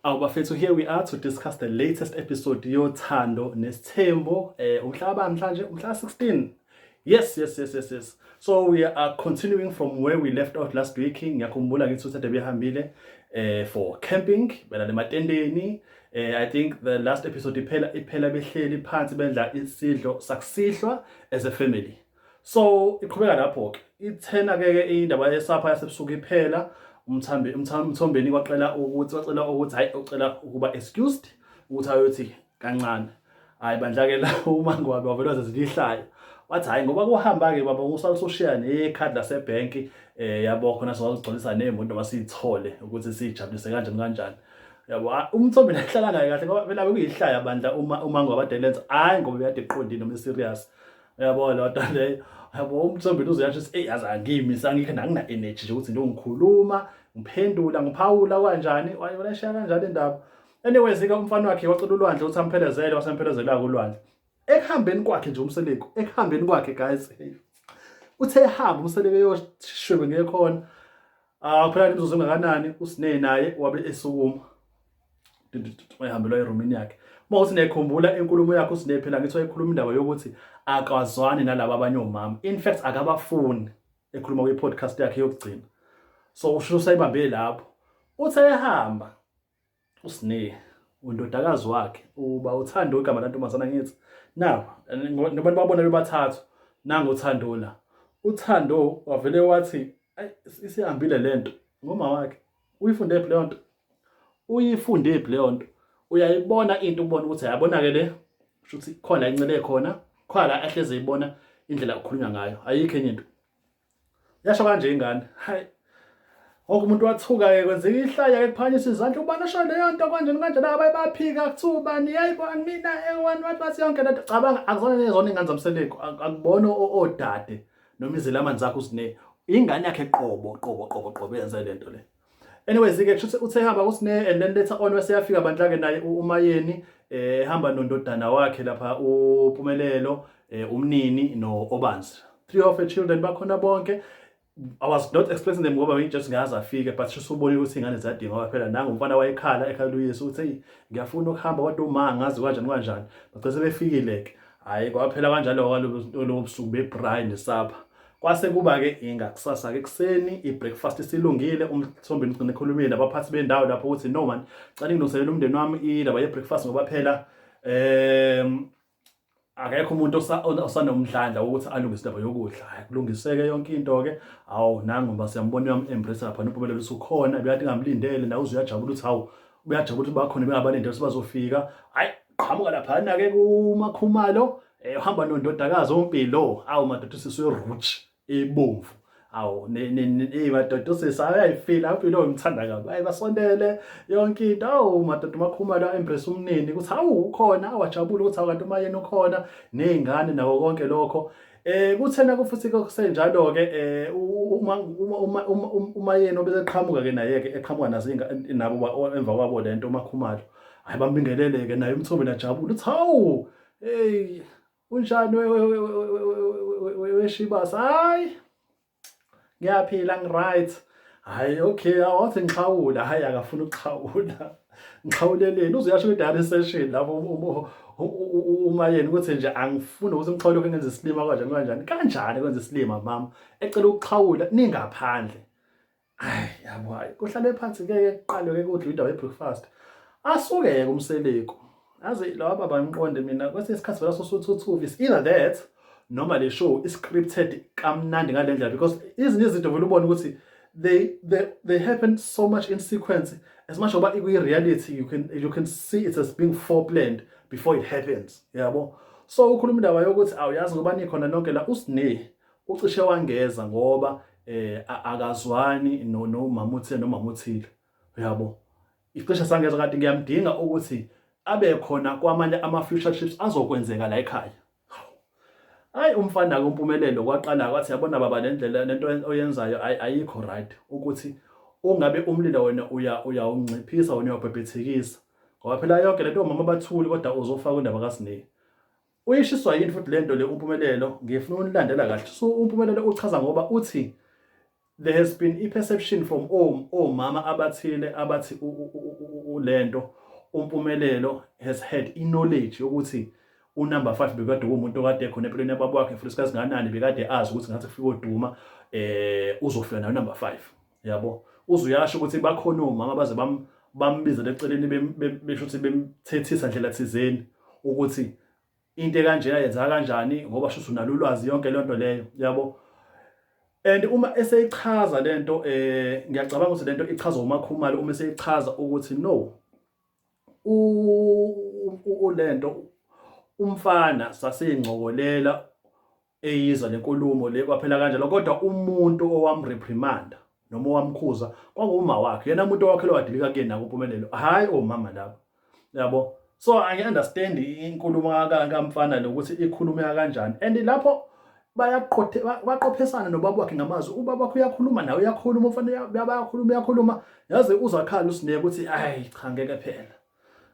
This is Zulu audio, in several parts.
Awu bafethu here we are to discuss the latest episode yothando nesithembo eh umhla ba mhlanje umhla 16 yes yes yes yes yes so we are continuing from where we left off last week ngiyakhumbula ngithi uthathe behambile eh for camping bela lematendeni eh i think the last episode iphela iphela behleli phansi bendla isidlo sakusihlwa as a family so iqhubeka lapho ke ithena ke indaba yesapha yasebusuku iphela umthambi umthombeni kwaqela ukuthi wacela ukuthi hayi ucela ukuba excused ukuthi ayothi kancane hayi bandla ke la uma ngwabe wavelwa zezilihlayo wathi hayi ngoba kuhamba ke baba usale soshiya nekhadi lasebank eh yabo khona sizogcwalisa nemoto basithole ukuthi sijabulise kanjani kanjani yabo ah, umthombe lahlala ngaye kahle ngoba vele kuyihlaya bandla uma uma ngwabadelenza hayi ngoba uyade eqondile noma serious uyabo lo nto leyo yabo umthombeni uzoyasho ukuthi eyi yazi angimi sangikho nangina-energy nje ukuthi nje ungikhuluma ngiphendula ngiphawula kanjani wayolesheya kanjani indaba anyways-ke umfana wakhe wacela ulwandle ukuthi amphelezele wasemphelezeleka ulwandle ekuhambeni kwakhe nje umseleko ekuhambeni kwakhe guys uthe ehamba umseleko eyoshwebe ngekhona ah, kuphela imizuzu engakanani usinee naye wabe esukuma wayehambelwa erumini yakhe uma uthi niyayikhumbula inkulumo yakho uSine phela ngithi wayekhuluma indaba yokuthi akazwani nalaba abanye omama in fact akabafuni ekhuluma kwi-podcast yakhe yokugcina so usho usayibambile lapho uthi ayehamba uSine undodakazi wakhe uba uthando igama lantombazana ngithi now ngoba babona bebathathu nangu uthando la uthando wavele wathi isihambile lento ngoma wakhe uyifunde phi leyo nto uyifunde phi leyo nto uyayibona into ubona ukuthi ayabonake le shuthi khona incele khona khona ahleze ibona indlela okukhulunywa ngayo ayikho enye into yasho kanje ingane hayi Wonke umuntu wathuka ke kwenzeka ihlaya ke kuphanyisa izandla ubani osho leyo nto kanjani kanjani abayibaphika kuthiwa ubani yayibo mina ewani wathi bathi yonke lento cabanga akuzona nezona ingane zamseleko akubona odade noma izelamani zakho usine ingane yakhe qobo qobo qobo qobo yenza le nto le anyways ke kusho ukuthi uthe hamba kusine and then later on wese yafika bandla ke naye umayeni eh hamba nondodana wakhe lapha upumelelo eh, umnini no obanzi three of the children bakhona bonke I was not expecting them ngoba just ngaze afike but just ubone ukuthi ingane ziyadinga ngoba phela nangu umfana wayekhala ekhala uyesu uthi ngiyafuna ukuhamba kodwa uma ngazi kanjani kanjani bagcese befikile ke hhayi kwaphela kanjalo kwalobo busuku bebrayi nesapha kwase kuba-ke ingakusasa-ke ekuseni i-breakfast isilungile umthombeni ugcine ekhulumile nabaphathi bendawo lapho ukuthi no man cela ngilungiselele umndeni wami indaba ye-breakfast ngoba phela um akekho umuntu osanomdlandla wokuthi alungise indaba yokudla kulungiseke yonke into-ke awu nangu ngoba siyambona uyam-embrace lapha nophumelelo usukhona bekade ngamlindele nawe uze uyajabula ukuthi hawu uyajabula ukuthi bakhona bengabalindele ukuthi bazofika hhayi qhamuka laphana ke kumakhumalo eh uhamba nondodakazi ompilo awu madoda usisi werouch ebomvu awu eh madoda usisi ayayifila impilo ngithanda kabi ayi basondele yonke into awu madoda umakhumalo embrace umnini ukuthi awu ukhona awajabule ukuthi awukanti uma yena ukhona nezingane nawo konke lokho Eh kuthena kufuthi kusenjalo ke eh uma uma uma yena obeseqhamuka ke naye ke eqhamuka nazinga nabo emva kwabo lento umakhumalo hayi bambingelele ke naye umthobe lajabula uthi hawu hey unjani weshibas hayi ngiyaphila ngiright hayi okay awathi ngixhawula hayi akafuna ukuxhawula ngixhawuleleni uzuyasho kwi-diary session lapho uma yena ukuthi nje angifuni ukuthi umxhawule lokho engenza isilima kanjani kanjani kanjani kwenza isilima mama ecela ukuxhawula ningaphandle Ay yabo hayi kuhlale phansi ngeke kuqalwe ke kudla indawo yebreakfast. Asuke yeke umseleku. Aze lawa baba ngiqonde mina kwesinye isikhathi vela sosuthuthuvi is either that noma le show is scripted kamnandi ngalendlela because izinto izinto vele ubona ukuthi they they they happen so much in sequence as much oba ikwi reality you can you can see it as being foreplanned before it happens yabo so ukhuluma indaba yokuthi awuyazi ngoba nikhona nonke la usine Ucishe wangeza ngoba eh akazwani no no mamuthile no mamuthile. Uyabo? Icishe sangeza kanti ngiyamdinga ukuthi abe khona kwamanye ama future trips azokwenzeka la ekhaya. Hayi umfana ke umpumelelo kwaqala kwathi yabona baba le ndlela lento oyenzayo ayikho right ukuthi ungabe umlilo wena uya uyawunciphisa wena uyabhebhethekisa ngoba phela yonke lento mama bathuli kodwa uzofa kwindaba kaSineki Uyishiswa yini futhi lento le uMpumelelo ngifuna unilandela kahle. So uMpumelelo uchaza ngoba uthi there has been a perception from omama abathile abathi ulento uMpumelelo has had i knowledge yokuthi unumber 5 bekade kumuntu okade khona empilweni yababa wakhe futhi sikazi nganani bekade azi ukuthi ngathi kufika oduma eh uzofika nayo number 5 yabo uze uyasho ukuthi bakhona omama baze bambizele eceleni besho ukuthi bemthethisa ndlela thizeni ukuthi into ekanjena yenzeka kanjani ngoba shuthi unalo ulwazi yonke le nto leyo yabo and uma eseyichaza le nto um eh, ngiyacabanga ukuthi le nto ichazwa umakhumalo uma eseyichaza ukuthi no le nto umfana saseyingcokolela eyizwa lenkulumo le kwaphela kanjalo kodwa umuntu owamreprimanda noma owamkhuza kwakuma wakhe yena umuntu owakhe lowadilika kuyena kumpumelelo hayi omama laba yabo so i understand inkulumo kamfana lokuthi ikhulumeka kanjani and lapho bayaqothe baqophisana nobaba wakhe ngamazwi ubaba wakhe uyakhuluma nawe uyakhuluma umfana bayakhuluma uyakhuluma yazi uzakhala usineke ukuthi ayi cha ngeke phela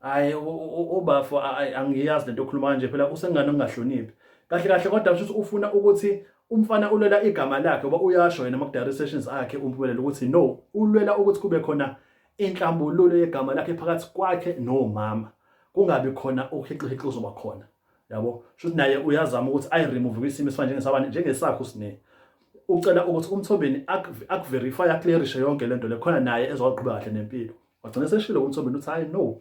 hayi ubafo angiyazi lento okhuluma kanje phela usengane ongahloniphi kahle kahle kodwa usho ukuthi ufuna ukuthi umfana ulwela igama lakhe ngoba uyasho yena makudala sessions akhe umpumelelo ukuthi no ulwela ukuthi kube khona inhlambululo yegama lakhe phakathi kwakhe nomama kungabi khona ukuhixihixi uzoba khona yabo shuthi naye uyazama ukuthi ayi remove kwisimo esifana njengesabani njengesakhe usine ucela ukuthi umthombeni akuverify aclearishe yonke lento le khona naye ezowaqhubeka kahle nempilo wagcina seshilo uMthombeni uthi hayi no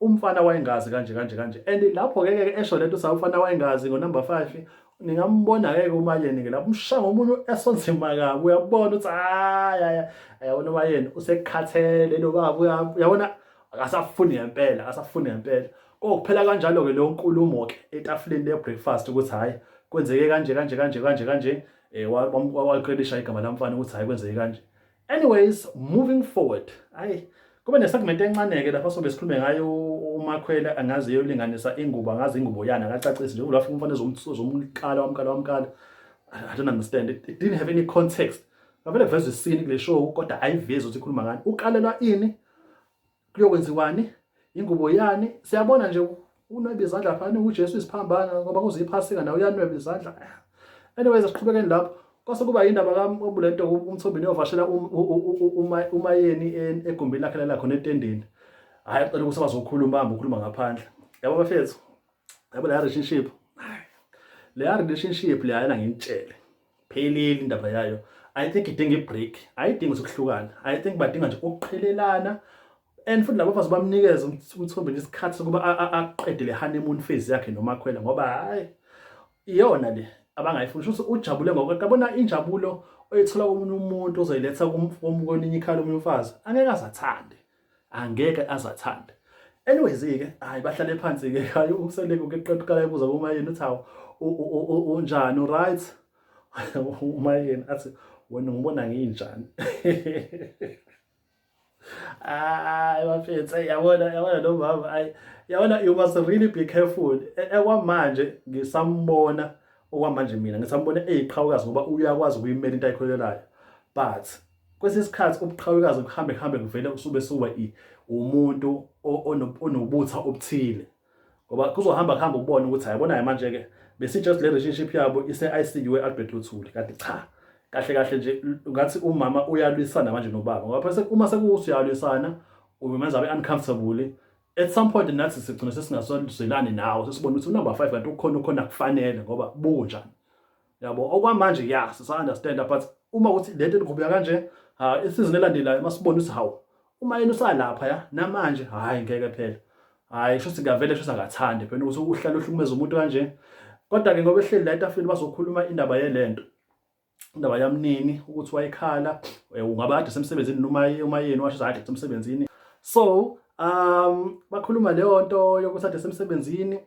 umfana wayengazi kanje kanje kanje and lapho ke ke esho lento sa umfana wayengazi ngo number 5 ningambona ke umayeni ke lapho umshanga umuntu esonzima kabi uyabona uthi hayi ayabona umayeni usekhathele lo baba uyabona akasafuni ngempela akasafuni ngempela kokuphela kanjalo ke lo nkulumo ke etafuleni le breakfast ukuthi hayi kwenzeke kanje kanje kanje kanje kanje eh waqedisha igama lamfana ukuthi hayi kwenzeke kanje Anyways, moving forward. Ayi kube nesegment encaneke lapho sobe sikhulume ngayo umakhwela angazi eyolinganisa ingubo angazi ingubo yana akacacisi njengoba lafika umfana ezomkala wamkala wamkala I don't understand it, it didn't have any context ngavele kuvezwa isini kule show kodwa ayivezi ukuthi ikhuluma ngani ukalelwa ini kuyokwenziwani ingubo yani siyabona nje unweba izandla phana uJesu isiphambana ngoba kuze iphasika nawe uyanweba izandla anyways asiqhubekeni lapho kwase kuba yindaba kabulento umthombeni ovashela umayeni egumbini lakhe lala khona etendeni hayi cela ukuthi bazokhuluma hamba ukhuluma ngaphandle yabo bafethu yabo la relationship le relationship le ayena ngintshele phelile indaba yayo i think idinga ibreak ayidingi ukuhlukana i think badinga nje ukuqhelelana and futhi labo bafazi bamnikeza umthombe nje isikhathi sokuba aqede le honeymoon phase yakhe nomakhwela ngoba hayi iyona le abangayifuni shuthi ujabule ngoba kabona injabulo oyithola komunye umuntu ozoyiletha komunye ikhala omunye umfazi angeke azathande angeke azathande anyways ke hayi bahlale phansi ke hayi useleke ukeqeda uqala ebuza uma yini uthi hawu unjani uright uma yini athi wena ngibona nginjani hayi bafethu yabona yabona lo mama hayi yabona you must really be careful e, ekwamanje ngisambona okwamanje mina ngisambona eyiqhawukazi ngoba uyakwazi ukuyimela into ayikholelayo but Kwesinye isikhathi ubuqhawekazi kuhambe kuhambe kuvele kusube suba umuntu onobutha obuthile ngoba kuzohamba kuhamba ubone ukuthi hayibonayo manje-ke besi-just le relationship yabo ise-ICU e-Albert Luthuli kanti cha kahle kahle nje ngathi umama uyalwisana manje nobaba ngoba phese uma sekuwuthi uyalwisana umenza abe uncomfortable at some point nathi sigcina sesingasazwelani nawo sesibona ukuthi unumber 5 kanti ukhona ukhona kufanele ngoba bunjani yabo okwamanje ya sisa understand but uma ukuthi lento eniqhubeka kanje ha isizini elandelayo masibona ukuthi hawu uma yena usalapha ya namanje hayi ngeke phela hayi sho sikavele sho sangathande phela ukuthi uhlala uhlukumeza umuntu kanje kodwa ke ngoba ehleli la etafini bazokhuluma indaba yelento indaba yamnini ukuthi wayekhala eh, ungaba kade semsebenzini noma uma yena washo kade semsebenzini so um bakhuluma leyo nto yokuthi kade semsebenzini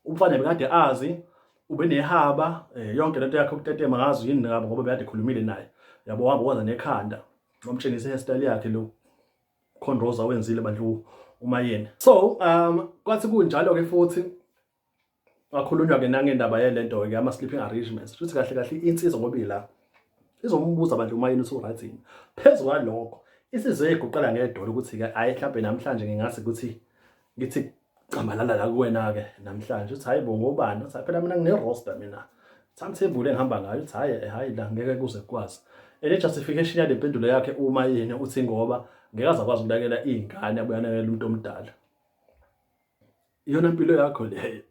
umfana bekade azi ube nehaba eh, yonke lento yakhe ukutetema ngazi yini ngabo ngoba bekade khulumile naye yabo wahamba waza nekhanda wamtshengisa hairstyle yakhe lo khonroza wenzile bandlu uma yena so um kwathi kunjalo ke futhi wakhulunywa ke nangendaba yelento ke ama sleeping arrangements futhi kahle kahle insizwa ngoba ila izombuza abantu uma yini usuryt yini phezulu kwalokho isizwe iguqela ngedolo ukuthi-ke ayi mhlawumbe namhlanje ngingase ukuthi ngithi cambalala la kuwena-ke namhlanje uthi hhayi bo ngobani uthi phela mina ngine-roster mina timetable engihamba ngayo uthi hhayi eh, hhayi la ngeke kuze kukwazi and i-justification yale mpendulo yakhe uma yini uthi ngoba ngeke aze akwazi ukunakela iy'ngane abuye anakela umuntu omdala iyona mpilo yakho leyo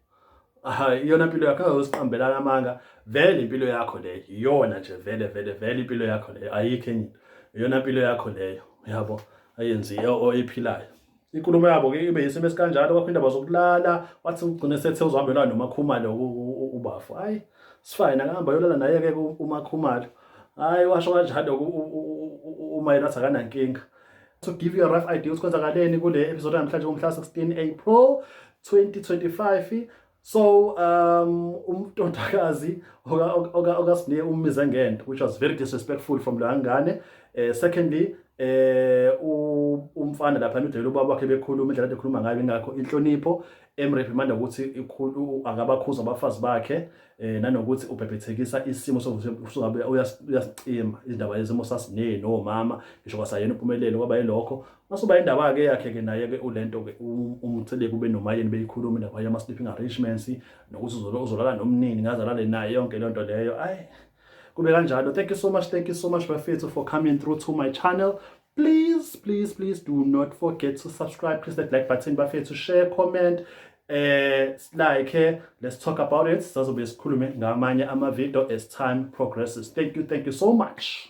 hayi iyona mpilo yakho azosiqambelana amanga vele impilo yakho leyo iyona nje vele vele vele impilo yakho leyo ayikho enye iyona mpilo yakho leyo yabo ayenziyo oyiphilayo inkulumo yabo ke ibe yisimo esikanjalo kwaphinde bazokulala wathi ugcine sethe uzohambelana nomakhumalo ubafo hayi sifine akahamba yolala naye ke umakhumalo hayi washo kanjalo umayela athi akanankinga to give you a rough idea ukuthi kwenzakaleni kule episode namhlanje ngomhla 16 April 2025 So um umtondakazi oka oka okasine umize ngento which was very disrespectful from leyo ngane. Eh secondly eh umfana lapha nidela ubaba wakhe bekhuluma indlela ade khuluma ngayo ingakho inhlonipho emreprimanda ukuthi ikhulu akabakhuza abafazi bakhe eh nanokuthi ubhebhethekisa isimo sokuthi uyasicima izindaba lezimo sasineni nomama ngisho kwasayena upumelelo kwaba yilokho Masuba indaba ke yakhe ke naye ke ulento ke umtheleke ube nomayeni beyikhuluma indaba yama sleeping arrangements nokuthi uzolo uzolala nomnini ngazalale naye yonke lento leyo ay kube kanjalo thank you so much thank you so much bafethu for coming through to my channel please please please do not forget to subscribe press that like button bafethu share comment eh like eh, let's talk about it sazobe sikhulume ngamanye ama video as time progresses thank you thank you so much